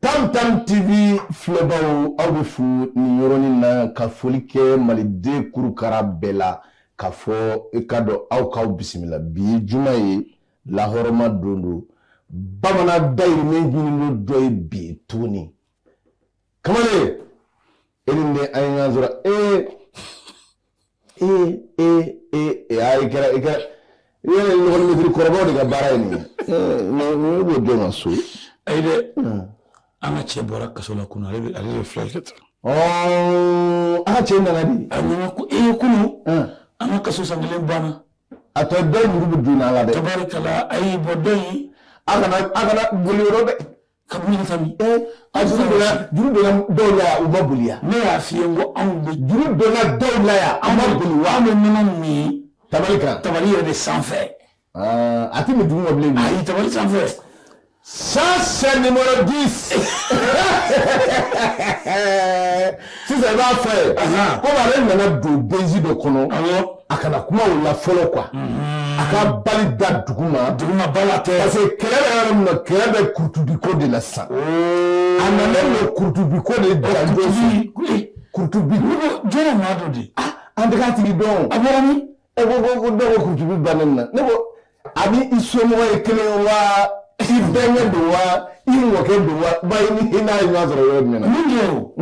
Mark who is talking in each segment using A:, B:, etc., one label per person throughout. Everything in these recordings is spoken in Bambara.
A: tantan tv filɛbaw aw bɛ fo nin yɔrɔnin na ka foli kɛ maliden kurukara bɛɛ la k'a fɔ i k'a dɔn aw k'aw bisimila bi ye juma ye lahɔrɔma don don bamanan dayirimɛ ɲinini don ye bi tuguni kamalen e ni ne an ye ɲɔgɔn sɔrɔ ee ee ee ee ee ayi kɛra i kɛra i yɛrɛ ɲɔgɔn mɛtiri kɔrɔbaw de ka baara ye nin ye ne b'o dɔn ka so ayi dɛ
B: an ka cɛ bɔra kaso la kunun ale bɛ ale bɛ filɛ kɛ tan ɔɔ
A: an ka cɛ nana di a nana ko ee
B: kunun an ka kaso san kelen banna a tɔ dɔ in
A: juru bɛ don a la dɛ tabarikala ayi bɔ
B: dɔ in a kana a kana
A: boli yɔrɔ dɛ ka boli ka
B: mi eh, a juru
A: donna juru donna dɔw la yan u ma boli yan ne y'a f'i ye n ko anw
B: bɛ juru donna dɔw
A: la yan an ma boli wa an bɛ nɔnɔ min
B: tabali kan tabali
A: yɛrɛ de
B: sanfɛ ah, a
A: tɛ min duguma bilen ayi tabali
B: sanfɛ
A: ça c'est numéro 10 sisan i b'a fɔ ye komi ale nana don benzi dɔ kɔnɔ a kana kuma o la fɔlɔ quoi a ka bali da duguma duguma ba la tɛ parce que
B: kɛlɛ bɛ yɔrɔ min
A: na kɛlɛ bɛ kurutubiko de la sisan oh. a nana n'o kurutubiko de janjo kurutubi jɔn maa
B: dɔ de ah, an tɛ k'a tigi
A: dɔn a bɔra min e
B: ko ko ko dɔw
A: ko kurutubi bannen na ne ko a ni i somɔgɔ ye kelen wa i bɛnkɛ don wa i mɔkɛ don wa ba i ni i n'a ye ɲɔgɔn sɔrɔ yɔrɔ jumɛn na. min kɛ o.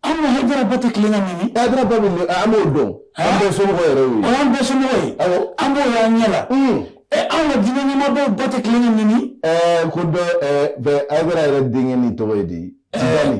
B: an ka hayidara ba tɛ tilen ka nɛni. hayidara ba bɛ nɛni an
A: b'o dɔn. an bɛɛ somɔgɔ yɛrɛ y'o ye. an bɛɛ somɔgɔ ye.
B: awɔ an b'o y'an ɲɛ la. ɛ anw ka diinɛ ɲɛmɔgɔw ba tɛ tilen ka nɛni. ɛɛ ko dɔ
A: ɛɛ bɛɛ hayidara yɛrɛ denkɛnin tɔgɔ ye di. tijani.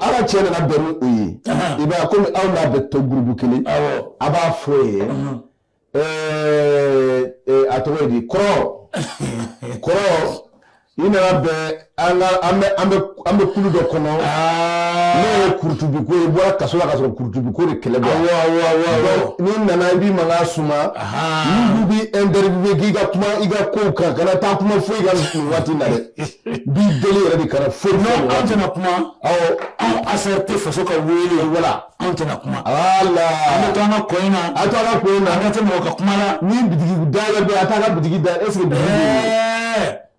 B: ala cɛ nana bɛn
A: ni o ye i b'a kɔmi aw n'a bɛ to gurupu kelen a b'a fɔ ye a tɔgɔ ye di kɔrɔ kɔrɔ i nana bɛn an bɛ kulu dɔ kɔnɔ n'o ye kurutubiko ye i bɔra kaso la ka sɔrɔ kurutubiko de kɛlɛ bɔ n'i nana i b'i mankan suma n'u b'i interviewer k'i ka kuma i ka kow kan kana taa kuma foyi kan nin waati na dɛ b'i deli yɛrɛ de kana fɔ non an tɛna
B: kuma awɔ anw affaire tɛ faso ka wele wala anw tɛna kuma ala an bɛ
A: to an ka ko
B: in na a to an ka ko in na an ka
A: tɛ mɔgɔ ka kuma la ni bitigi dayɛlɛ bɛ a t'a ka bitigi da est ce que bitigi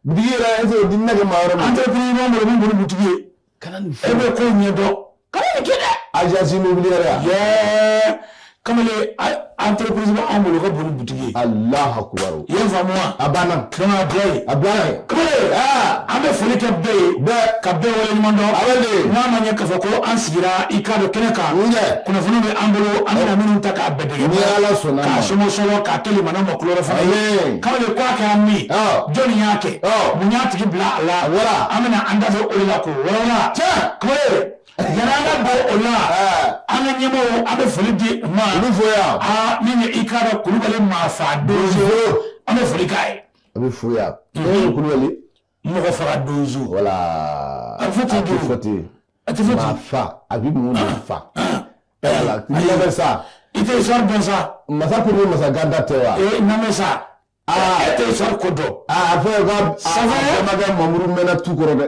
A: bitigi yɛrɛ est ce que dinɛ kɛ maa wɛrɛ ma entreprise b'an bolo min bolo
B: bitigi ye kana nin fɔ e bɛ ko ɲɛdɔn kana nin kɛ dɛ agence
A: immobilière ya
B: yɛɛ kamalen entreprise bɛ anw bolo ka bon ni butigi ye alahu akubaru i y'a
A: faamu wa a
B: banna donc a
A: bila yen a
B: bila yen kamalen an bɛ foli kɛ bɛɛ ye bɛɛ ka bɛɛ waleɲuman dɔn a bɛ de n'a ma ɲɛ k'a fɔ ko an sigira i k'a dɔn kɛnɛ kan kunnafoni bɛ an bolo an bɛna minnu ta k'a bɛɛ ala sɔnna
A: k'a sɔmɔ sɔrɔ
B: k'a di limanaw ma kula fana ye kamalen ko kɛra min jɔnni y'a kɛ mun y'a tigi bila a la wala an bɛna an da o la k'o walawala cɛ yanni an ka bɔ o la an ka ɲɛmɔgɔw an bɛ foli di ma olu fo yan
A: aa min ye i k'a dɔn
B: kulubali maa fa donso an bɛ foli k'a ye a bɛ fo yan
A: kulubali mɔgɔ
B: faga donso
A: wala a fɔ ten don
B: fɔ ten a tɛ fɔ ten fa a
A: bɛ mun de fa wala n'i y'a mɛn sa i tɛ histoire dɔn
B: sa masa ko ni masa
A: ganda tɛ wa ee n lamɛn
B: sa aa e tɛ histoire ko dɔn aa a fɔ ye
A: ko a bɛnbakɛ mamuru mɛnna tu kɔrɔ dɛ.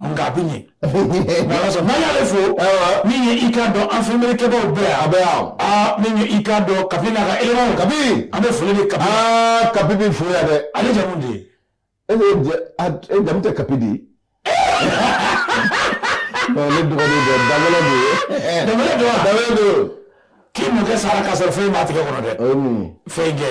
B: nka a bɛ ɲɛ n'ala sɔnna n'an y'ale fo min ye i k'a dɔn an filimelikɛbaw bɛɛ yan a bɛ yan aa min ye i k'a dɔn kapi n'a ka elemanw kapi an bɛ foli di kapi aa kapi bɛ fo
A: yan dɛ ale jamu de ye
B: e bɛ jɛ
A: a e jamu tɛ kapi de ye ne dɔgɔnin dɛ danbɛlɛ de ye danbɛlɛ don wa danbɛlɛ don k'i mɔkɛ
B: sara k'a sɔrɔ fɛn b'a tigɛ kɔnɔ dɛ o ye mun ye fɛn kɛ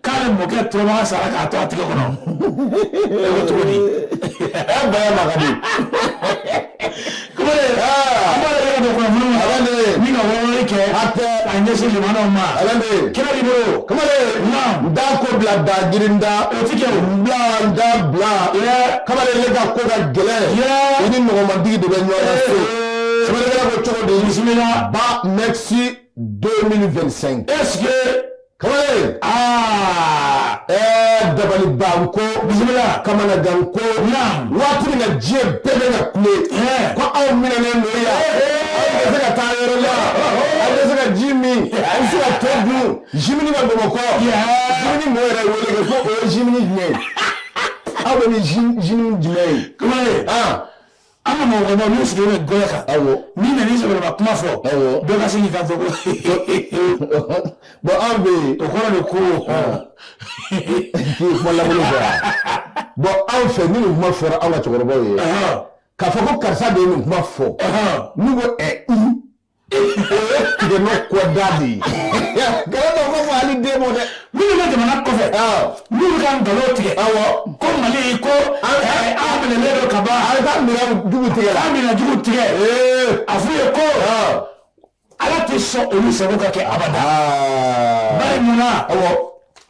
B: k'ale mɔkɛ turamakan sara k'a to a tigɛ kɔnɔ e ko cogo di ɛ
A: baya ma ka
B: di kumare an b'a yɛrɛ don kunnafoni ma ala ne ni ka wɔɔrɔli
A: kɛ
B: a tɛ a ɲɛsin
A: limanaw
B: ma ala ne kira b'i bolo kamale
A: naam n da ko bila da jiri n da o ti kɛ o
B: bila n da
A: bila yɛ kamale ne ka ko ka gɛlɛn yɛ i ni nɔgɔmadigi de bɛ ɲɔgɔn na so kamale e ko cogo di bisimila ba
B: merci
A: 2025 est ce que Kamalen aa ɛɛ dabaliban ko bisimila
B: kamanaganko
A: waati min na diɲɛ bɛɛ bɛ ka kule ko aw minɛnen don yan aw tɛ se ka taa yɔrɔ la aw tɛ se ka ji min aw tɛ se ka to dun zimini bɛ Bamakɔ zimini mɔɔ yɛrɛ wele kɛ ko o ye zimini jumɛn ye aw bɛ ni zimini jumɛn ye kamalen aa
B: an ka mɔgɔkɔrɔbaw n'u sigilen bɛ golo kan awɔ n'i nana i
A: sɛbɛlama
B: kuma fɔ Awɔ. dɔ ka se k'i kanto ko
A: bɔn anw bɛ yen o kɔrɔ de ko k'i kuma lankolon fɔ yan bɔn anw fɛ ni nin kuma fɔra anw ka cɛkɔrɔbaw ye ɔhɔn, k'a fɔ ko karisa de ye nin kuma fɔ ɔhɔn. n'u ko ɛ i Tigɛ ne kɔ da de ye. Galon don ko fɔ Maliden mɔɔ dɛ. Minnu bɛ jamana kɔfɛ.
B: Awɔ. Minnu bɛ ka nkalon tigɛ. Awɔ. Ko Mali
A: ko
B: an an minɛlen don ka ban. An ka minɛ
A: jugu tigɛ la. An minɛ jugu tigɛ.
B: Ee. A f'u ye ko. Ala tɛ sɔn olu sago ka kɛ abada. Bari munna. Awɔ.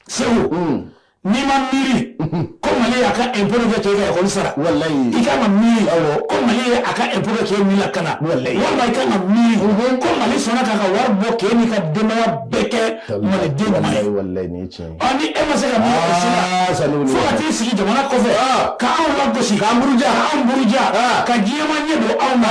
A: Segu.
B: n'i ma miiri ko mali y'a ka impôt kɛ k'e ka ekɔli sara i kan
A: ka
B: miiri ko mali ye a ka impôt kɛ k'e ni lakana walima i kan ka
A: miiri
B: ko mali sɔnna k'a ka wari bɔ k'e n'i ka denbaya bɛɛ kɛ maliden ɲuman
A: ye ɔ ni e ma se
B: ka miiri o si la fo ka t'i sigi jamana kɔfɛ ka anw lagosi k'an buruja ka diɲɛmaa ɲɛ don anw na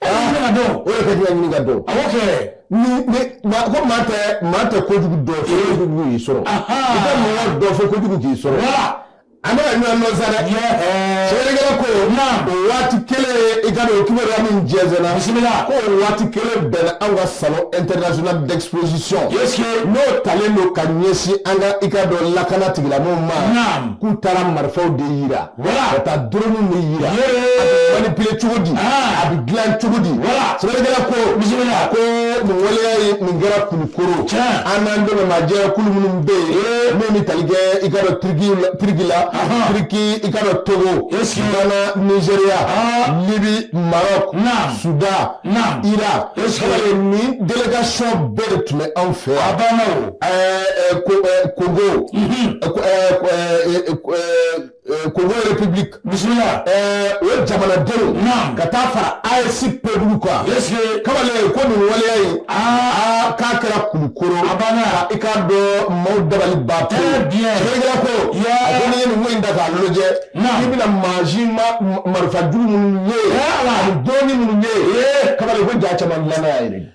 B: e bɛ ɲini ka dɔn o de ka di ka ɲini ka
A: dɔn awɔ kɛ
B: ni ni
A: maa ko maa tɛ maa tɛ kojugu dɔn fo kojugu y'i sɔrɔ i tɛ mɔgɔ dɔn fo kojugu k'i sɔrɔ an bɛ ka ɲɔgɔn dɔn sa dɛ sɛbɛnnikɛla ko o waati kelen i k'a dɔn o kibaruya min jɛnsɛnna bisimila ko o waati kelen bɛnna anw ka salon international d'exposition n'o talen don ka ɲɛsin an ka i k'a dɔn lakana tigilamɔgɔw ma k'u taara marifaw de yira ka taa doroniw de yira a bɛ manipuler cogo di a bɛ dilan cogo di sɛbɛnnikɛla ko a ko nin waleya ye nin kɛra kulukoro an n'an dɛmɛbaa jɛkulu minnu bɛ yen min bɛ tali kɛ i k'a dɔn turiki turiki la turiki i k'a dɔn togo ghana nizeriya libi maroc sudan iran nin délégation bɛɛ de tun bɛ anw fɛ yan congo congo république bisimila o ye jamanadenw ka taa fara AES peuple kan kamalen ko nin waleya ye aa k'a kɛra kulukoro a banna i k'a dɔn maaw dabali ba ko ko in da k'a lajɛ i bɛna mansin marifa jugu minnu ye doroni minnu ye kamalen ko ja caman dilan yɛrɛ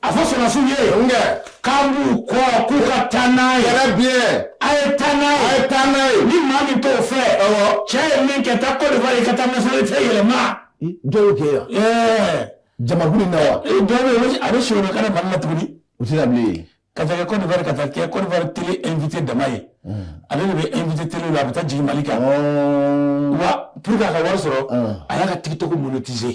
B: a fɔ sɔrɔdasiw ye nkɛ k'an b'u kɔ k'u ka taa n'a ye yɛrɛ bien a ye taa n'a ye a ye taa n'a ye ni maa min t'o fɛ awɔ cɛ ye min kɛ taa Côte d'Ivoire i ka taa nationalité yɛlɛma dɔ y'o kɛ yan
A: ɛɛ jamakulu in na wa dɔ bɛ yen a
B: bɛ sɔrɔ ka na Mali la tuguni o tɛ na
A: bilen ka taa kɛ Côte d'Ivoire
B: ka taa kɛ Côte d'Ivoire télé invité dama ye ale de bɛ invité télé la a bɛ taa jigin Mali kan wa pour que a ka wari sɔrɔ a y'a ka tiktok monétiser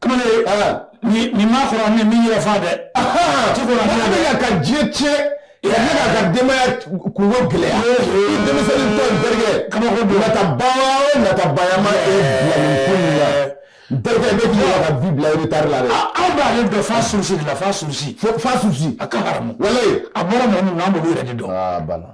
A: kamalen ye
B: ni ni ma kɔrɔ
A: ni min
B: yɛrɛ fa dɛ ti ko la
A: ne
B: bɛ ka diɲɛ tiɲɛ
A: ne ka ka denbaya kunko gɛlɛya i denmisɛnnin tɔ in terikɛ kabako don nata baara o nata bayama ye bila nin ko in na n terikɛ ne k'i yɛrɛ ka vie bila retard la dɛ aw b'ale dɔn fa
B: surusi de la fa surusi fa surusi a ka haramu walayi a bɔra mɔgɔ
A: min na an
B: b'olu yɛrɛ de dɔn a banna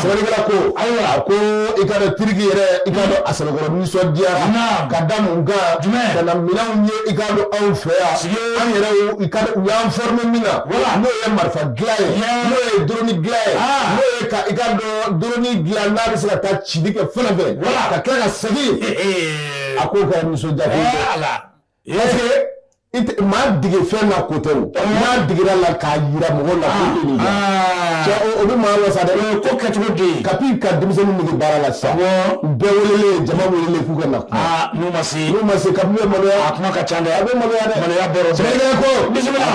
A: sɛbɛnnikɛla ko ayiwa a ko i k'a dɔn tiriki yɛrɛ i k'a dɔn a sɛbɛkɔrɔ nisɔndiyara ka da mun kan ka na minɛnw ye i k'a dɔn anw fɛ yan an yɛrɛ i ka u y'an fɔrime min na n'o ye marifa dilan ye n'o ye doroni dilan ye n'o ye ka i k'a dɔn doroni dilan n'a bɛ se ka taa cili kɛ fɛn fɛn ka kɛ ka segin a k'o kɛra nisɔndiya maa dege fɛn na ko tɛ maa degera la k'a jira mɔgɔ la o bɛ maa wasa ko kɛcogo de
B: kapi ka denmisɛnnin dege
A: baara la sisan bɛɛ wele jama wele k'u ka na n'u ma se n'u ma se
B: kapi bɛ maloya a
A: kuma ka ca a
B: bɛ maloya
A: maloya ko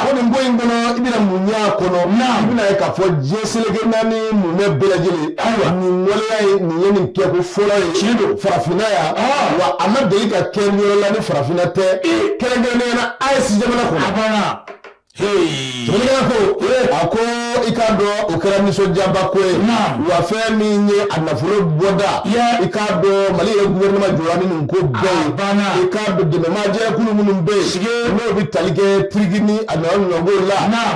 A: ko nin ko in kɔnɔ i bɛna mun y'a kɔnɔ i bɛna ye k'a fɔ diɲɛ seleke naani mumɛ bɛɛ lajɛlen ayiwa nin waleya ye nin ye nin kɛ ko fɔlɔ ye tiɲɛ don farafinna yan wa a ma deli ka kɛ yɔrɔ la farafinna tɛ kɛrɛnkɛrɛnnenya la AES jamana kɔnɔ. A banna. Jamana ko a ko i k'a dɔn o kɛra nisɔndiyaba ko ye wa fɛn min ye a nafolo bɔda i k'a dɔn Mali yɛrɛ gouvernement jɔra ni nin ko bɛɛ ye i k'a dɔn dɛmɛmaajɛkulu minnu bɛ yen n'o bɛ tali kɛ tiriki ni a ɲɔgɔnnaw la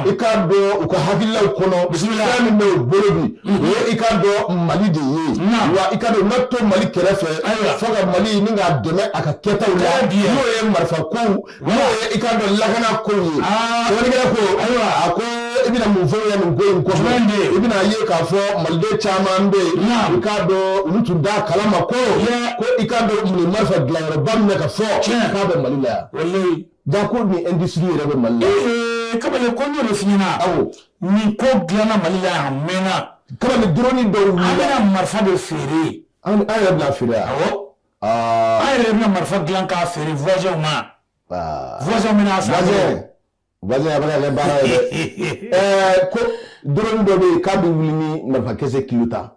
A: i k'a dɔn u ka hakililaw kɔnɔ fɛn min bɛ u bolo bi i k'a dɔn mali de ye wa i k'a dɔn u na to mali kɛrɛfɛ ayiwa fo ka mali ni k'a dɛmɛ a ka kɛtaw la n'o ye marifa kow n'o ye i k'a dɔn lakana kow ye sɛbɛnnikɛla ko ayiwa a ko i bɛna mun fɔ yan nin ko in kɔfɛ i bɛna ye k'a fɔ maliden caman bɛ yen i k'a dɔn olu tun t'a kalama ko ko i k'a dɔn nin marifa dilanyɔrɔba min bɛ ka fɔ k'a bɛ mali la yan Ja ko nin industrie yɛrɛ bɛ mali ee kamalen ko n
B: y'o f'i ɲɛ na nin ko dilanna mali a mɛnna kamalen
A: drone dɔw bɛna marifa de
B: feere an yɛrɛ bɛna
A: feere aa
B: an yɛrɛ bɛna marifa dilan k'a feere voisins ma voisins min
A: a bɛ baara ye ko drone dɔ bɛ yen k'a bɛ wuli ni marifakisɛ ye ka taa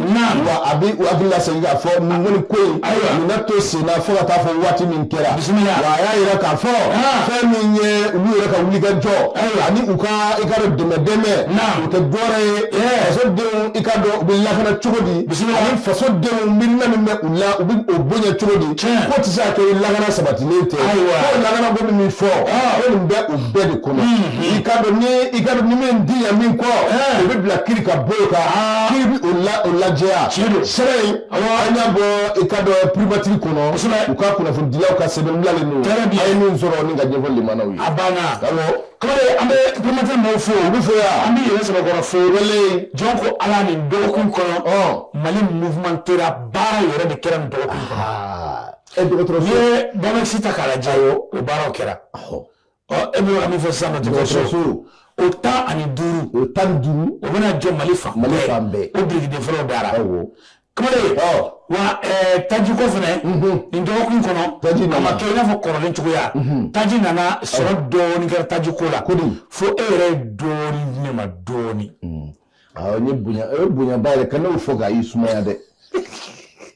A: a bɛ u hakili lasegin k'a fɔ nin ko in na to sen na fo ka taa fɔ waati min kɛra a y'a jira k'a fɔ fɛn min ye olu yɛrɛ ka wulikajɔ ani u ka i k'a dɔn dɛmɛdɛmɛ o tɛ dɔwɛrɛ ye fasodenw i k'a dɔn u bɛ lakana cogo di ani fasodenw miirina min bɛ u la u bɛ o bonya cogo di ko tɛ se ka kɛ lakana sabatilen tɛ ko lakana ko min fɔ ko nin bɛ o bɛɛ de kɔnɔ i k'a dɔn ni i k'a dɔn ni min di yan min kɔ o bɛ bila kiri ka bolo kan kiri bɛ o lajɛya sɛbɛn in an y'a bɔ i k'a dɔn primature kɔnɔ u ka kunnafonidilaw ka sɛbɛn bilalen don an ye min sɔrɔ ni k'a ɲɛfɔ lamɛnnaw ye a banna awɔ
B: kɔrɔ an bɛ primature mɔgɔw fo u bɛ fo yan an b'e yɛrɛ sɛbɛkɔrɔ fo wele jɔn ko ala nin dɔgɔkun kɔnɔ mali mouvementéra baara yɛrɛ de kɛra nin dɔgɔkun kɔnɔ e dɔgɔtɔrɔso ye banakisi ta k'a lajɛ o baaraw kɛra. e bɛ ka min fɔ sisan nɔ dɔgɔtɔrɔso o tan ani duuru o tan ni duuru o bɛna jɔ mali fan mali fan bɛɛ o birikiden fɔlɔ dara kamalen wa tajiko fana nin dɔgɔkun kɔnɔ taji a ma kɛ i n'a fɔ kɔrɔlen cogoya taji nana sɔrɔ dɔɔni kɛra tajiko la fo e yɛrɛ ye dɔɔni di ne ma dɔɔni n ye
A: bonya o ye bonyaba yɛrɛ kan'o fɔ k'a y'i sumaya dɛ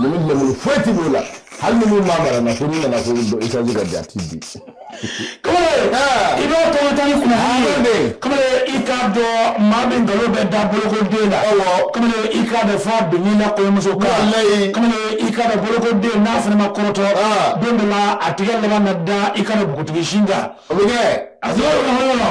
A: ne bɛ lemuru foyi
B: ti
A: b'o la hali ni min b'a mara na ko n'i nana ko dɔ isaji ka di a ti di.
B: kamalen i b'a tɔgɔ ta ni kunnafoni ye kamalen i k'a dɔn maa min nkalon bɛ da bolokoden na kamalen i k'a dɔn f'a binni na kɔɲɔmuso kan kamalen i k'a dɔn bolokoden n'a fana ma kɔrɔtɔ don dɔ la a tigɛ laban na da i k'a dɔn bugutigi sin kan o bɛ kɛ a sɔrɔ yɔrɔ yɔrɔ.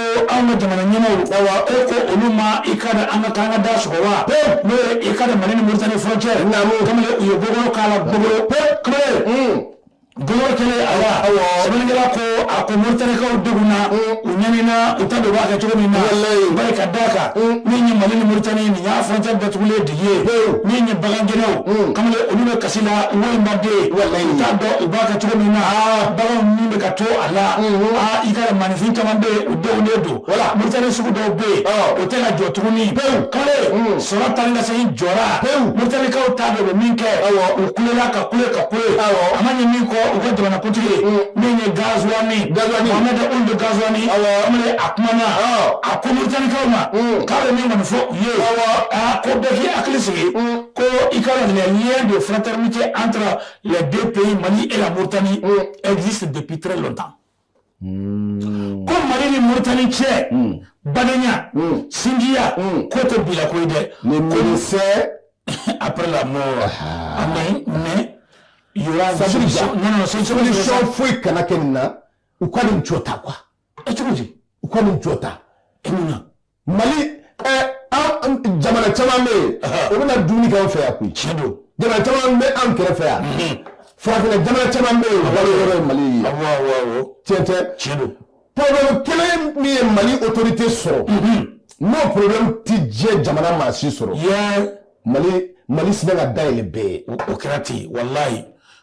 B: An ka jamana ɲɛma wa e ko olu ma i k'a dɔn an ka kan ka da sɔgɔ wa n'o ye i k'a dɔn mali ni moritani frontière u ye bɔ k'a la bolo bolo kelen a awkɛla ko a ko moritanikaw de na u ɲamina u t'a dɔn u b'a kɛ cogo min na bari ka d'a kan min ye mali ni moritani nin y'a frontière datugulen de ye min ye bagangɛnnaw kamalen olu bɛ kasi la walima den u t'a dɔn u b'a kɛ cogo min na bagan min bɛ ka to i ka maaninfin caman bɛ yen u denw de don wala moritani sugu dɔw bɛ yen o tɛ ka jɔ tuguni pewu kale sɔrɔ tan ka segin jɔra pewu moritanikaw t'a dɔn u bɛ min kɛ u kulela ka kule ka kule a ma ɲɛ min kɔ u ka jamanakuntigi min ye gazuwani Mohamed Ould gazuwani amadu a kumana a ko moritanikaw ma k'a bɛ min kɔni fɔ u ye ko bɛɛ k'i hakili sigi ko i k'a dɔn les liens de fraternité entre les deux pays Mali et la Mauritanie mm. existent depuis très longtemps mm. ko Mali ni Mauritanie cɛ mm. badenya sinjiya k'o tɛ bi la ko ye dɛ mais
A: médecin après
B: la mort ah. ah, mais mais il y aura solution non
A: non solution foyi kana kɛ nin na u ka nin jɔ tan quoi e cogo di
B: u ka nin jɔ
A: tan e mun na mali an jamana caman bɛ yen o bɛ na dumuni kɛ an fɛ yan koyi tiɲɛ don jamana
B: caman bɛ
A: an kɛrɛfɛ yan farafinna jamana caman bɛ yen baloyɔrɔ ye mali ye tiɲɛ tɛ
B: tiɲɛ don problème
A: kelen min ye mali autorité sɔrɔ n'o problème ti diɲɛ jamana maa si sɔrɔ mali mali sinna ka da yɛlɛ bɛɛ ye o kɛra ten walayi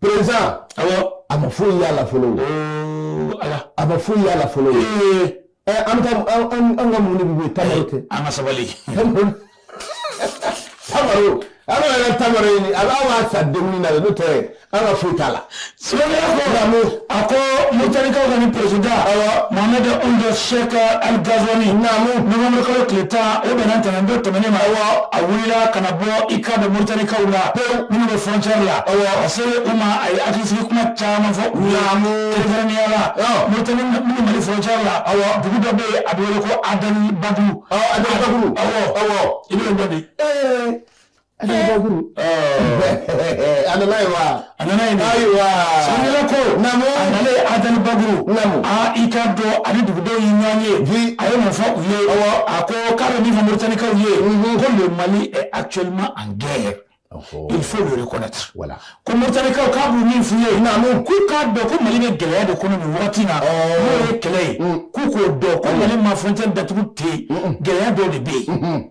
A: président a ma foyi y'a la fɔlɔ a ma foyi y'a la fɔlɔ an ka muɲu ta kɛ an ka
B: sabali
A: ala yɛrɛ tama ɲini ala b'a sa dumuni na n'o tɛ an ka foyi t'a la Silamɛ ko
B: lamɔ a ko motarikaw ka ni pda mama bɛ anw dɔ sɛ ka ali gazoni namu mkalo tile tan o bɛna ntɛnɛn don tɛmɛn ma wa a wulila ka bɔ i ka bɛ motarikaw la ko minnu bɛ fcɛ la a se u ma a ye akisi kuma caman fɔ u lamɔ terɛnyala mot minnu bɛ fcɛ la ayiwa dugu dɔ bɛ yen a bɛ ko a ba a bɛ i bɛ dɔ di
A: A nana n'a ye wa a nana yen wa sɛbɛnnikɛla ko a
B: nana Adel Bagrou aa i k'a dɔn a ni dugudenw ye ɲɔgɔn ye bi a ye mun fɔ u ye a ko k'a bɛ min fɔ moritanikaw ye ko le Mali est actuellement en guerre il faut le reconnaître voilà ko
A: moritanikaw
B: k'a bɛ min f'u ye k'u k'a dɔn ko mali bɛ gɛlɛya de kɔnɔ nin waati na n'o ye kɛlɛ ye k'u k'o dɔn ko mali ma frontière datugu ten gɛlɛya dɔ de bɛ yen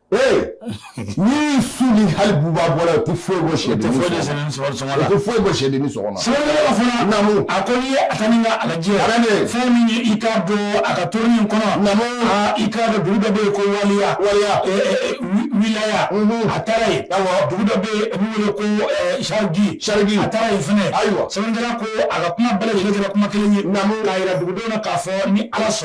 A: Ee ni su ni hali buba bɔra tɛ foyi bɔ sɛ tɛ foyi bɔ sɛ a
B: ko n'i ye a ta ni k'a lajɛ fɛn min ye i k'a dɔn a ka tournée in kɔnɔ i k'a dɔn dugu dɔ bɛ yen ko waliya waliya miya a taara yen dugu dɔ bɛ wele ko sariji a taara yen fana ayiwa sɛbɛnnikɛla ko a ka kuma bɛɛ kɛra kuma kelen ye k'a jira dugudenw na k'a fɔ ni ala sɔnna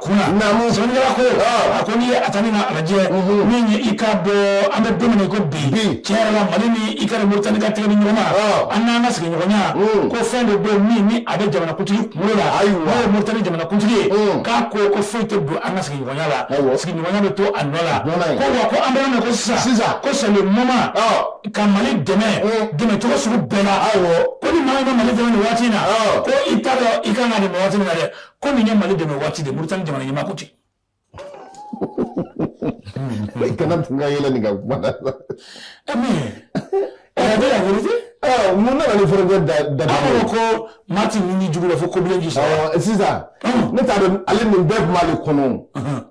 B: Sɛbɛnnikɛla ko a ko n'i ye a ta ni k'a lajɛ min ye i k'a dɔn an bɛ don min na i ko bi tiɲɛ yɛrɛ la Mali ni i k'a dɔn Mauritanie ka tɛgɛ di ɲɔgɔn ma an n'an ka sigiɲɔgɔnya ko fɛn dɔ bɛ yen min ni a bɛ jamanakuntigi kunkolo la n'o ye Mauritanie jamanakuntigi ye k'a ko ko foyi tɛ don an ka sigiɲɔgɔnya la sigiɲɔgɔnya bɛ to a nɔ la ko wa ko an bɛ yɔrɔ min na ko sisan ko c'est le moment ka Mali dɛmɛ dɛmɛ cogo sugu bɛɛ la ko ni maa min bɛ Mali dɛmɛ nin waati in na ko i t'a dɔn i ka kan k'a dɛmɛ waati min na dɛ. ko nin ye mali dɛmɛ waati de muritani jamana ɲɛmaa ko ten
A: i kana tun ka yɛlɛ nin ka kuma da la ɛ min ɛɛ bɛ yan wele mun nana ni forogo da da an
B: ko maa tɛ ni jugu la fo kobilen ji sɔrɔ sisan ne
A: t'a dɔn ale nin bɛɛ tun b'ale kɔnɔ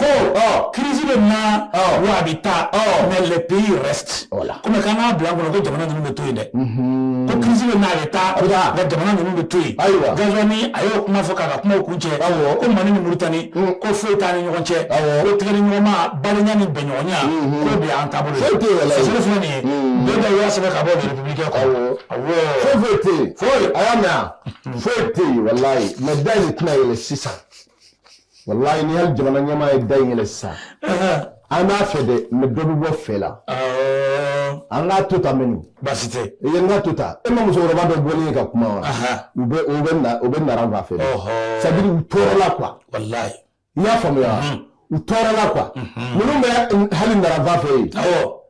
B: ko ɔ crise bɛ na wa a bɛ taa mais les pays restent komi k'an k'a bila an kɔnɔ ko jamana ninnu bɛ to yen dɛ ko crise bɛ na a bɛ taa nka jamana ninnu bɛ to yen Ghazouani a y'o kuma fɔ k'a ka kumaw kuncɛ ko mali ni muritani ko foyi t'an ni ɲɔgɔn cɛ ko tɛgɛdiɲɔgɔnma balenya ni bɛnɲɔgɔnya k'o de y'an taabolo ye source filɛ nin ye bɛɛ bɛ y'a sɛbɛn ka bɔ Républicain kɔ foyi foyi tɛ yen foyi
A: a y'a mɛn foyi tɛ yen walayi mais da in tɛna yɛlɛ sisan walayi ni hali jamana ɲɛmaa ye da in yɛlɛ sisan an b'a fɛ dɛ mais dɔ bɛ bɔ fɛ la an k'a to tan mais ni baasi tɛ i ye n ka
B: to ta e
A: ma musokɔrɔba dɔ bɔlen ye ka kuma wa u bɛ u bɛ na u bɛ nara fan fɛ c'est-à-dire u tɔɔrɔla quoi walayi i y'a
B: faamuya
A: u tɔɔrɔla quoi minnu bɛ hali nara fan fɛ yen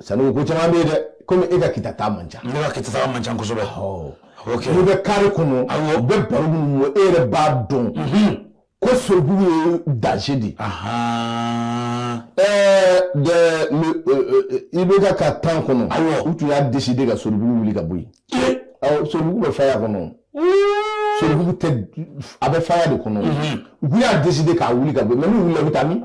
A: sanu ko caman bɛ yen dɛ komi e ka kita taa man ca ne ka kita taa man
B: ca kosɛbɛ
A: n'i bɛ carré kɔnɔ u bɛ baro minnu e yɛrɛ b'a dɔn ko soribugu ye danger de IBK ka temps kɔnɔ u tun y'a deside ka soribugu wuli ka bɔ yen soribugu bɛ faya kɔnɔ soribugu tɛ a bɛ faya de kɔnɔ u y'a deside k'a wuli ka bɔ yen mais n'u wulila u bɛ taa min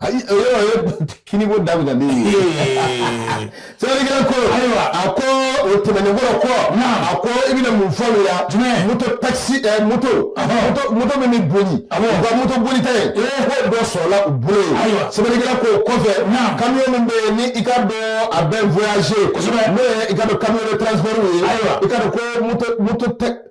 A: ayi o yɔrɔ o ye kiniko daminɛ ne ye sɛbɛnnikɛla ko ayiwa a ko o tɛmɛnen kɔrɔ kɔ a ko i bɛna mun fɔ o la jumɛn moto takisi ɛ eh, moto moto moto min bɛ boli u ka moto boli ta ye ko dɔ sɔrɔla u bolo yen ayiwa sɛbɛnnikɛla ko o kɔfɛ kamiyon min bɛ yen ni i ka dɔn a bɛ voyager kosɛbɛ n'o ye i ka dɔn kamiyon de transport ye ayiwa i ka dɔn ko moto moto tɛ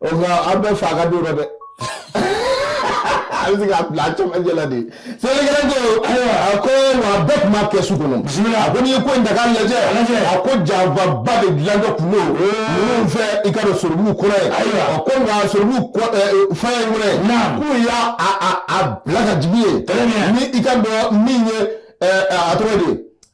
A: o nka an bɛ fa ka don dɔ dɛ a bɛ se k'a bila a cɛmancɛ la de sɛbɛnnikɛla ko ayiwa a ko wa a bɛɛ tun b'a kɛ su kɔnɔ bisimila a ko n'i ye ko in ta k'a lajɛ a ko janfaba de dilantɔ tun don ninnu fɛ i ka dɔn soribugu kɔnɔ yen ayiwa a ko nka soribugu forêt in kɔnɔ yen k'u y'a a bila ka jigin yen ni i ka dɔn min ye a tɔgɔ de ye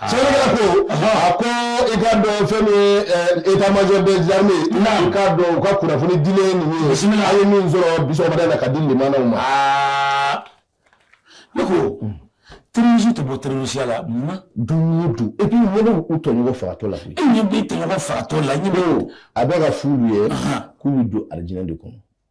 A: sɛbɛnnikɛla ko a ko i ka dɔn fɛn min ye état major des armées i ka dɔn u ka kunnafoni dilen ninnu ye bisimila a ye min sɔrɔ bi sɔgɔmada in na ka di limanaw ma aa
B: ne ko terɔrisi tɛ bɔ terɔrisiya la munna don o don
A: et puis ɲɛ bɛ u tɔɲɔgɔn fagatɔ la e ɲɛ bɛ tɔɲɔgɔn
B: fagatɔ la ɲɛ bɛ a bɛ k'a f'olu
A: ye k'u bɛ don alijinɛ de kɔnɔ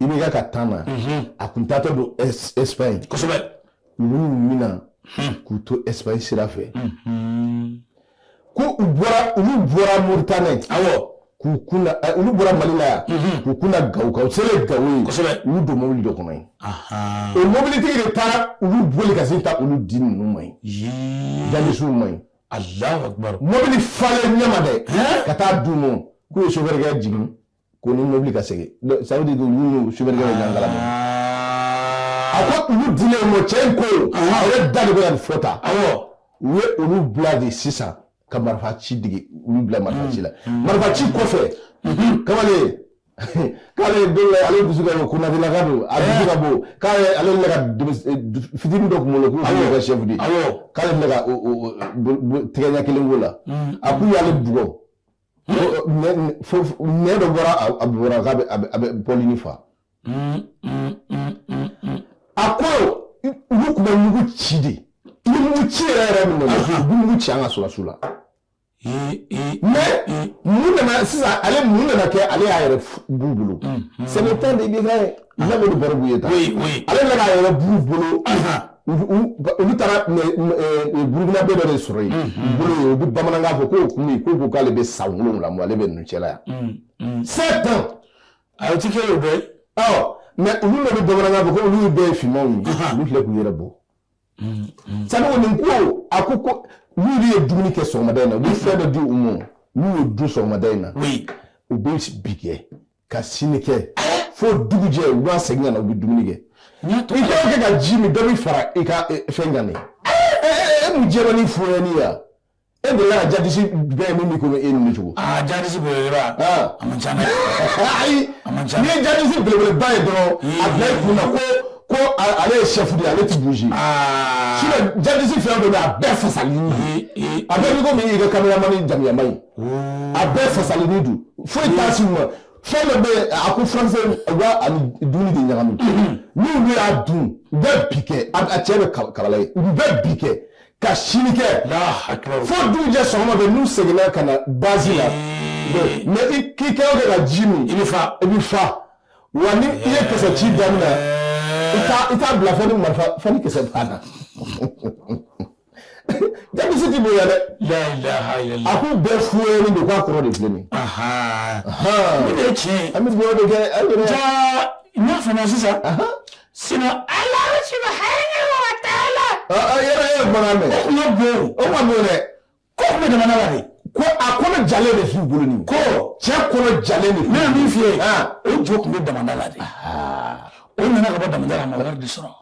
A: i bɛ ka ka tan na a k'u taatɔ don Espagne kosɛbɛ olu mina k'u to
B: Espagne sira
A: fɛ ko u bɔra olu bɔra Mauritanie awɔ k'u
B: kun
A: da olu bɔra Mali la yan k'u kun da Gawo kan u selen ye Gawo yen kosɛbɛ olu don mobili
B: dɔ kɔnɔ
A: yen o mobilitigi de taara olu boli ka sin taa olu di ninnu ma yen jihadisiw ma yen Alahu akibaru
B: mobili falen
A: ɲɛma dɛ ka taa d'u ma k'u ye sofɛrikɛ jigin ko ni mobili ka segin ça veut dire que olu n'u sofɛrikɛ bɛ ɲɔgɔn kalama a ko olu dilen u ma cɛ in ko a yɛrɛ da de bɛ ka nin fɔ tan awɔ u ye olu bila de sisan ka marifa ci dege olu bila marifa ci la marifa ci kɔfɛ kamalen k'ale ye don dɔ ale dusu ka bon Konatelaka don a dusu ka bon k'ale ale bɛ ka denmis- eh, du- fitini dɔ kunkolo k'u kun ka sɛfu di awɔ k'ale bɛ ka o- o- o- bo- bo- tɛgɛ ɲɛ kelen k'o la a k'u y'ale bugɔ ne dɔ bɔra a bɔra k'a bɛ a bɛ bɔli ni fa a ko olu tun bɛ mugu ci de i bɛ mugu ci yɛrɛ yɛrɛ min na u bɛ mugu ci an ka sɔrɔdasiw la mais mun nana sisan ale mun nana kɛ ale y'a yɛrɛ b'u bolo c'est le temps de IBK ye n'a bɛ nin baro b'u ye tan ale nana a yɛrɛ b'u bolo. olu taara burukinabɛ dɔ de sɔrɔ yen bolo yen u bɛ bamanankan fɔ k'o kun ye k'u ko k'ale bɛ san wolonwula bɔ ale bɛ ninnu cɛla yan sept ans a ti kɛ
B: o bɛɛ ye mais
A: olu de bɛ bamanankan fɔ ko olu bɛɛ ye finmanw ye olu filɛ k'u yɛrɛ bɔ sabu nin ko a ko ko n'olu ye dumuni kɛ sɔgɔmada in na u bɛ fɛn dɔ di u ma n'u y'o dun sɔgɔmada in na u bɛ bi kɛ ka sini kɛ fo dugujɛ u b'a segin ka na u bɛ dumuni kɛ i k'o kɛ ka ji min dɔ bɛ fara i ka fɛn kan de e mun jɛra ni fonyɛni ya e de la jadisi bɛɛ min b'i komi e ninnu cogo aa jadisi
B: belebeleba
A: a man ca dɛ ayi n'i ye jadisi belebeleba ye dɔrɔn a bila i kun na ko ko ale ye chef de ye ale ti bouger sinon jadisi fɛn o fɛn bɛ yen a bɛɛ fasalini a bɛɛ b'i komi i ka kameramani jamuyama ye a bɛɛ fasalini don foyi t'a si ma fɛn dɔ bɛ yen a ko furakisɛ u b'a ani dumuni de ɲagami n'olu y'a dun u bɛ bi kɛ a a cɛ bɛ kab- kabala ye u bɛ bi kɛ ka sini kɛ fo dugujɛ sɔgɔma fɛ n'u seginna ka na base la mais i k'i kɛ o kɛ ka ji min i bɛ fa i bɛ fa wa ni i ye kisɛ ci daminɛ i t'a i t'a bila fo ni marifa fo ni kisɛ banna Jadisi tɛ bonya dɛ a k'u bɛɛ fuyɛni de k'a kɔrɔ de filɛ nin
B: tiɲɛ
A: an
B: bɛ fana sisan sinon Alahu subhanahu wa ta'ala yɛrɛ ye
A: bɔra mɛn o o
B: man bon
A: dɛ ko tun bɛ jamana
B: la de ko a kɔnɔ
A: ja de f'u bolo nin ko cɛ kɔnɔ ja de ne ye min
B: f'i ye o jo tun bɛ jamana la de o nana ka bɔ da ma de sɔrɔ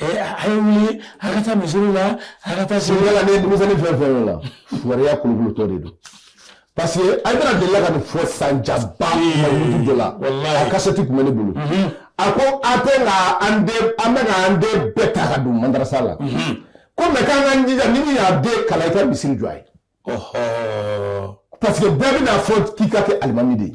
B: A ye wuli a ka taa misiri la a ka taa siri la fɛn
A: fɛn la waya kulutɔ de don parce que a bɛna deli ka nin fɔ san jaba dɔ la a kasɛti tun bɛ ne bolo a ko a tɛ an bɛ an den bɛɛ ta ka don madarasa la ko mɛ k'an ka jija ni min y'a den kalan i ka misiri jɔ a ye parce que bɛɛ bɛna fɔ k'i ka kɛ alimami de ye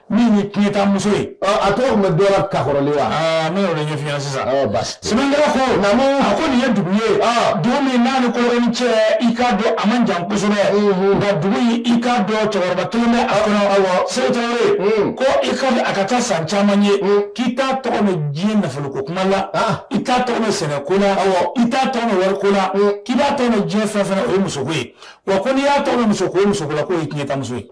B: min ye tiɲɛtamuso ye a tɔgɔ tun bɛ dɔ
A: la kakɔrɔlen wa ne y'o de ɲɛf'i
B: ɲɛna sisan basi sɛbɛnkɛla ko naamu a ko nin ye dugu ye dugu min n'a ni kolokani cɛ i k'a dɔn a man jan kosɛbɛ nka dugu in i k'a dɔn cɛkɔrɔba kelen bɛ a kɔnɔ awɔ seku tarawele ko i ka a ka taa san caman ye k'i t'a tɔgɔ mɛn diɲɛ nafoloko kuma la i t'a tɔgɔ mɛn sɛnɛko la awɔ i t'a tɔgɔ mɛn wariko la k'i b'a tɔgɔ mɛn diɲɛ fɛn fɛn na o ye musoko ye wa ko n'i y'a tɔgɔ mɛn musoko o ye musoko la k'o ye tiɲɛtamuso ye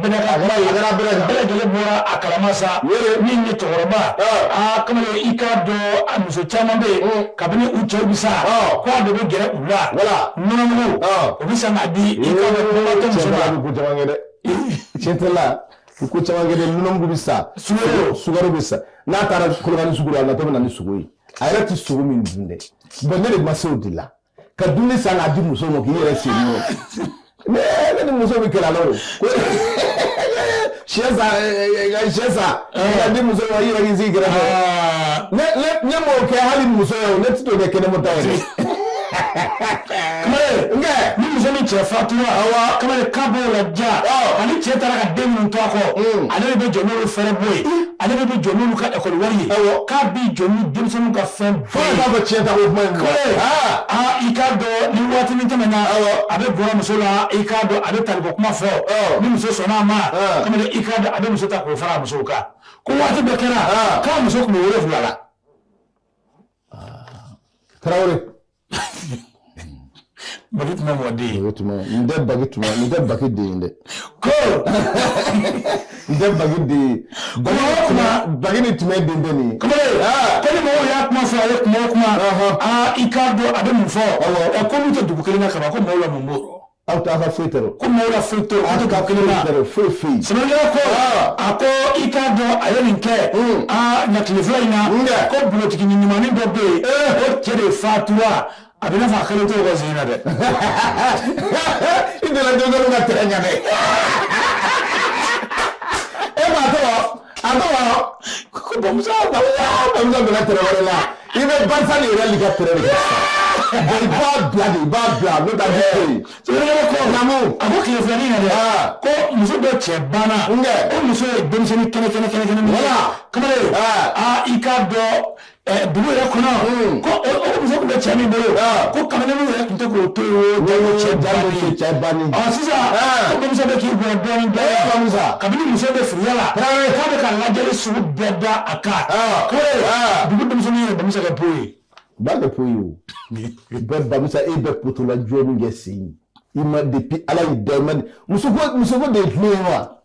B: bɛɛ lajɛlen bɔra a kalama sa min ye cɛkɔrɔba kamalen i k'a dɔn a muso caman bɛ yen kabini u cɛw bɛ sa k'a de bɛ gɛrɛ u la wala nɔnɔmugu o bɛ san k'a di i
A: dɛ cɛla u ko caman kɛ dɛ nɔnɔmugu bɛ san su sukaro bɛ san n'a taara kolokani sugu la a natɔ bɛ na ni sogo ye a yɛrɛ tɛ sogo min dun dɛ bon ne de ma se de la ka dumuni san k'a di muso ma k'i yɛrɛ sen n'o ne ne ni muso bɛ kɛlɛ la o syɛ san syɛ san k'a di muso ma i yɛrɛ k'i sigi kɛrɛfɛ ne ne ne m'o kɛ hali muso ye o ne ti t'o kɛ kɛnɛma ta ye kamalen
B: nkɛ ni muso min cɛ fatura awa kamalen k'a b'o ladiya ani cɛ taara ka den minnu to a kɔ ale de bɛ jɔ n'olu fɛɛrɛbɔ ye ale de bɛ jɔ n'olu ka ekɔli wari ye k'a b'i jɔ ni denmisɛnninw ka fɛn Fo ka taa fɔ cɛ ta ko
A: kuma in kɔrɔ. Kɔrɔ ye. Aa! Aa
B: i k'a dɔn ni waati min tɛmɛna. Awɔ. A bɛ gɛrɛ muso la i k'a dɔn a bɛ taliko kuma fɔ. Ɔ. Ni muso sɔnn'a ma. Ɔn. Kamalen i k'a dɔn a bɛ muso ta k'o fara a musow kan. Ko waati dɔ kɛra. Ɔn. K'a muso tun bɛ wolonwula la.
A: Tarawele.
B: Ba tun bɛ mɔ den tun bɛ n tɛ ba
A: tun n tɛ ba den yen dɛ ko n tɛ ba den ba ba ni tun bɛ den bɛ nin
B: ko ni mɔgɔw y'a kuma fɔ a ye kuma o kuma i k'a dɔn a bɛ mun fɔ ko n'u tɛ dugu kelen na ka ko mɔgɔw la mun bɔ aw t'a ka foyi
A: tɔɔrɔ ko maaw la foyi tɛ
B: dugu kelen na foyi foyi sɛbɛnkɛla ko a ko i k'a dɔn a ye nin kɛ aa na tile fila in na ko bulotigi ni ɲumannin dɔ bɛ yen o cɛ de fatura a bɛ n'a fɔ a kelen t'o ka sen na
A: dɛ i donna denmisɛnninw ka tɛrɛ ɲɛ dɛ e m'a tɔgɔ A ko wa ko Bamusa Bamusa Bamusa donna tɛrɛ wɛrɛ la i bɛ Barisa de yɛrɛ ka tɛrɛ de la i b'a bila de i b'a bila n'o tɛ a bɛ to yen sɛbɛnni
B: ko namu a ko tile filanin na dɛ ko muso dɔ cɛ banna ko muso ye denmisɛnnin kɛnɛ kɛnɛ kɛnɛ kɛnɛ wala kamalen aa i k'a dɔn dugu yɛrɛ kɔnɔ ko muso tun bɛ cɛ min bolo ko kamalen yɛrɛ tun tɛ k'o to yen cɛ bannen sisan ko Bamusa bɛ k'i bɔ dɔɔnin dɔɔnin sa kabini muso bɛ firiya la k'a bɛ ka ladiyali sugu bɛɛ da a kan ko dugu denmisɛnnin yɛrɛ denmisɛn ka bɔ ye ba ka to ye
A: o bɛɛ Bamusa e bɛ putula jɔni kɛ sen i ma depuis Ala y'i da ma muso muso de ye tulo ye wa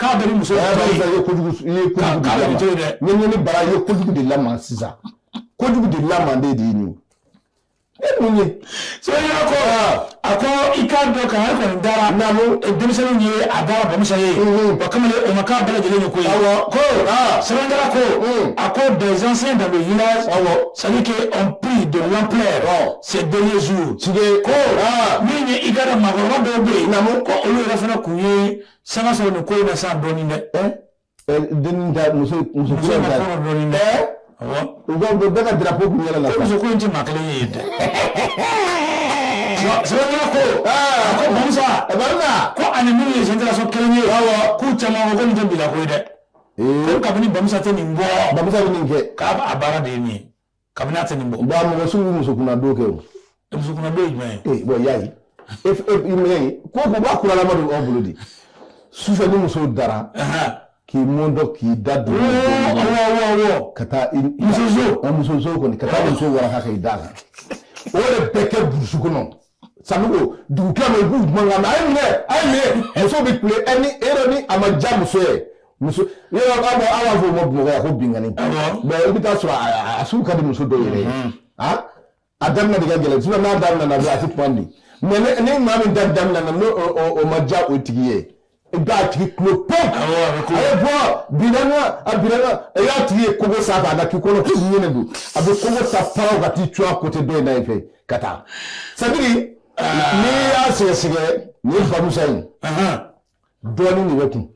B: K'a bɛ
A: muso bara bara ye kojugu de la sisan kojugu de la manden de ye e mun ye so
B: ko a ko i k'a dɔn ka da denmisɛnnin ye a dara Bamusa ye ba kamalen o ma k'a bɛɛ lajɛlen ko ko sɛ ko a ko des anciens dans le village ça dit que ça a pris de l'ampleur ces derniers jours ko
A: min
B: ye i k'a dɔn mɔgɔkɔrɔba dɔw bɛ yen ko olu yɛrɛ fana k'u ye Sanga sɔrɔ nin ko in na sa dɔɔni dɛ. Ɛɛ eh, denni
A: da muso muso ko in da. Ɛɛ
B: u ka u
A: bɛɛ ka drapeau kun yɛlɛ la. Ko muso ko in tɛ maa kelen ye
B: dɛ. Sɛbɛnna ko aa ko Bamusa Bamusa ko ani minnu ye génération kelen ye awɔ k'u caman ko ko nin tɛ bila ko ye dɛ. Ee ko kabini Bamusa tɛ nin bɔ. Bamusa bɛ nin kɛ.
A: K'a a baara de ye nin ye.
B: kabini a tɛ nin bɔ. bon a mɔgɔ sugu bɛ
A: musokunna don kɛ o. musokunna
B: don ye jumɛn
A: ye. ee bon y'a ye e e minɛ ye ko ko b'a kuralama don aw bolo de sufɛ ni muso dara. k'i mɔntɔ k'i da don. awɔ ka taa i. muso so. muso so kɔni ka taa muso waraka k'i da kan. o de bɛ kɛ burusi kɔnɔ. sanko dugu tilama i b'u mankan a ye minɛ a ye minɛ muso bɛ kule ɛ ni e yɛrɛ ni a ma diya muso ye muso yɔrɔ aw b'a aw b'a fɔ o ma bamakɔ yan ko binkanni mɛ i bɛ t'a sɔrɔ a a sugu ka di muso dɔw yɛrɛ ye a a daminɛ de ka gɛlɛn sisan n'a daminɛna dɔrɔn a tɛ ban de mɛ ni maa min ta daminɛna n'o o ma diya o tigi ye i b'a tigi kulo pɛn a bɛ bɔ bilana a bilana i y'a tigi ye kogo sanfɛ a na k'i kɔnɔ k'i ɲɛnɛ don a bɛ kogo ta faraw ka t'i cun a côté dɔ in na in fɛ ka taa c'est-à-dire n'i y'a sɛgɛsɛgɛ nin ye bamusa ye dɔɔni de b'a kun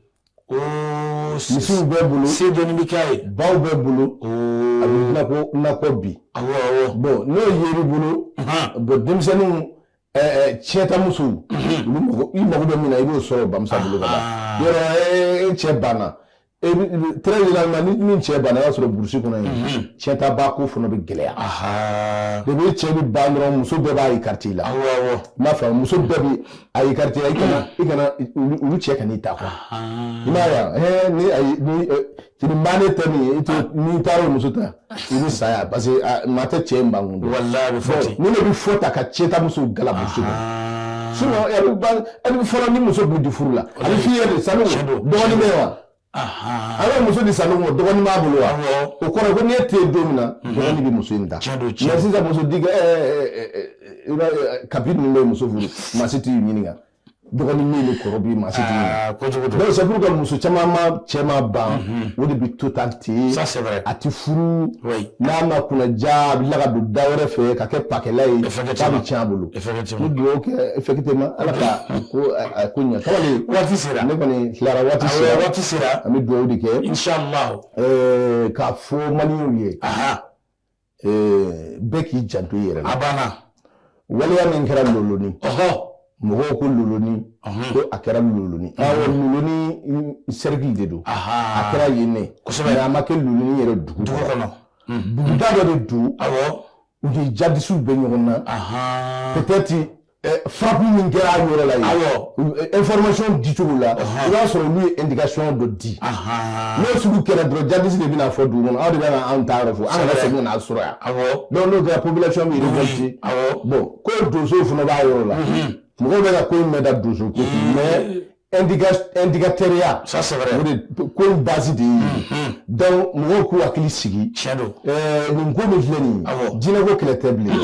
A: misiw b'a bolo se dɔɔni bɛ k'a
B: ye baw b'a bolo
A: a bɛ nakɔ nakɔ bi bɔn n'o yer'i bolo bɔn denmisɛnninw cɛtamuso i mago bɛ min na i b'o sɔrɔ bamusa bolo ka ban yɔrɔ e cɛ banna très généralement ni min cɛ banna i b'a sɔrɔ burusi kɔnɔ yen cɛtaba ko fana bɛ gɛlɛya de bɛ cɛ bɛ ban dɔrɔn muso bɛɛ b'a écarté i la i m'a faamu muso bɛɛ bɛ a écarté la i kana i kana olu cɛ kan'i ta quoi i m'a ye wa ni ayi ni Tiribannen tɛ min ye i ah. n'i taara muso ta i bɛ saya parce que ah, maa tɛ cɛ in ban kun dɔn ni
B: ne bɛ fɔ ta ka
A: cɛ ta muso galabu su bɛ fɔlɔ ni muso bɛ di furu la a bɛ filɛ de sanu dɔgɔnin bɛ wa a bɛ muso di sanu ma dɔgɔnin b'a bolo wa o kɔrɔ ko ni e tɛ don min na mhm. dɔgɔnin bɛ muso in ta mɛ sisan muso di kabi ninnu bɛ muso furu maa si t'i ɲininka dɔgɔnin min ni kɔrɔ bi maa si t'i ah, donc c'est pourquoi muso caman ma cɛ ma ban mhm. o de bi to tan ten a ti
B: furu
A: n'a ma kunnandiya a bi la ka don da wɛrɛ fɛ ka kɛ pakɛla ye k'a bi tiɲɛ a bolo ni dugawu kɛ effectivement ala ka ko a ko ɲɛ kamalen waati sera ne
B: kɔni tilara
A: waati ah sera waati sera an bɛ dugawu de kɛ inchallah eh,
B: k'a
A: fɔ maliɲɛw ye bɛɛ k'i janto i yɛrɛ la a banna
B: waleya
A: min kɛra loloni mɔgɔw ko loloni ko a kɛra loloni awɔ loloni cercle de don a kɛra yen ne kosɛbɛ a ma kɛ loloni yɛrɛ dugu dugu kɔnɔ
B: buguda dɔ
A: de don awɔ u ni jadisiw bɛ ɲɔgɔn na peut-être frappe min kɛra a yɔrɔ la yen information di cogo la i b'a sɔrɔ olu ye indication dɔ di n'o sugu kɛra dɔrɔn djihadistes de bɛna fɔ dugu kɔnɔ aw de bɛna anw taayɔrɔ fɔ an ka segin n'a sɔrɔ yan donc n'o kɛra population bɛ révolté bon ko donsow fana b'a yɔrɔ la mɔgɔw bɛ ka ko min da donso ko mais indicateur ya ça c'est vrai o
B: de ko in base de
A: ye donc mɔgɔw k'u hakili sigi nin ko min filɛ nin ye dinɛ ko kɛlɛ tɛ bilen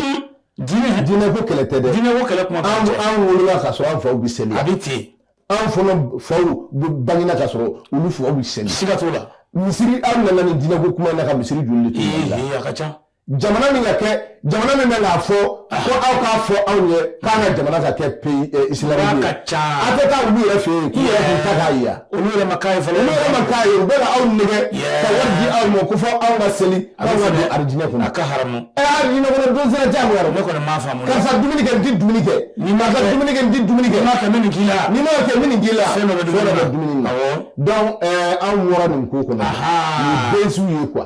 A: dinɛ ko kɛlɛ tɛ dɛ dinɛ ko kɛlɛ kuma
B: an an wolola
A: ka sɔrɔ an faw bɛ seli a bɛ ten
B: an fana
A: faw bangina ka sɔrɔ olu faw bɛ seli siga t'o la misiri
B: an nana
A: ni dinɛ ko kuma na ka misiri joli de tun bɛ a ka
B: ca jamana min ka
A: kɛ jamana min bɛ k'a fɔ ko aw k'a fɔ anw ye k'an ka jamana ka kɛ pays islamique ye a tɛ taa olu yɛrɛ fɛ yen k'u yɛrɛ k'u ta k'a ye olu yɛrɛ ma k'a ye fɔlɔ
B: olu yɛrɛ ma k'a ye
A: u
B: bɛ
A: ka aw nɛgɛ ka wari di aw ma ko fo aw ka seli aw ka don arijinɛ kɔnɔ a ka haramu ɛ
B: arijinɛ kɔnɔ don
A: sera jagoya ne kɔni m'a faamu karisa
B: dumuni kɛ n
A: ti dumuni kɛ ni ma ka dumuni kɛ n ti dumuni kɛ ma kɛ min k'i la ni
B: ma kɛ min k'i
A: la fɛn dɔ bɛ dumuni
B: na
A: donc anw wɔɔrɔ nin ko kɔnɔ ni bɛsiw ye quoi